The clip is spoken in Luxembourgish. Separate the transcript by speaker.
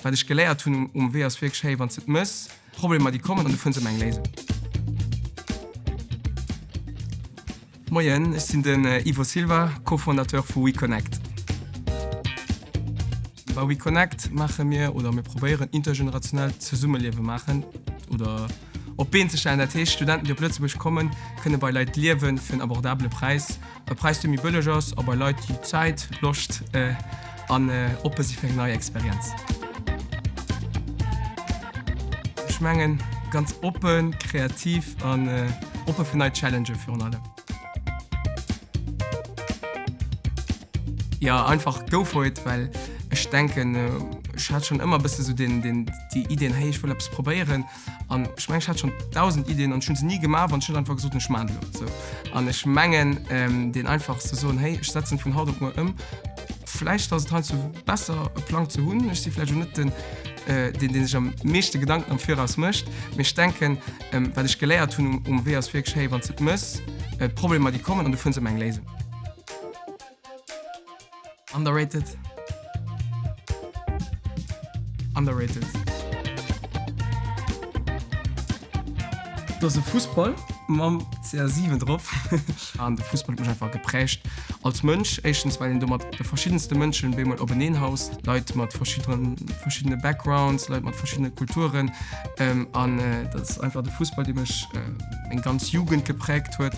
Speaker 1: Wat ech geléiert hunn um Wee ass wierklech, hey, wann s de et méchs, d'Problemer déi kommen an du fënns ëmmer eng Léisung. Moien, ech sinn den Ivo Silva, Co-Fondateur vu WeConnect. Bei WeConnect maache mir oder mir probéieren intergenerationellt Zesummeliewe maachen oder. Op d'Been ze stellen, dat heescht Studenten, déi op Lëtzebuerg kommen, kënne bei Leit liewen, fir en abordabele Präis, e Präis, dee méi bëlleg ass, a bei Leit, déi Zäit, Loscht an oppe si fir eng nei Experienz. Ech mengen, ganz oppen, kreativ an oppe fir nei Challengë virun allem. Jo einfach go for it well ech denken ech hat schon ëmmer bësse sou den den déi Ideen hey ech wëll eppes probéieren an ech mengen ech hat schon 1000 Ideen an ech hunn se ni gemaach an ech hunn einfach gesot ech maan se elo sou an ech mengen den einfach ze soen hey ech setzen vun haut op muer ëm vläicht ass et heiansdo besser e Plang ze hunn. Ech si vläicht elo net den deen deen sech am meeschte Gedanken am viraus mécht mee ech denken wat ech geléiert hunn um Wee ass wierklech hey wann s de et méchs Problemer déi kommen an du fënns ëmmer eng Léisung. Underrated. Underrated. Dass e Fussball mam CR7 drop an de Fussball mech einfach geprägt als Mënsch. Éischtens well een do mat de verschiddenste Mënschen bemol openeen haust, Leit mat verschiddenen verschiddene Backgrounds, Leit mat verschiddene Kulturen an dat ass einfach de Fussball, dee mech eng ganz Jugend geprägt huet.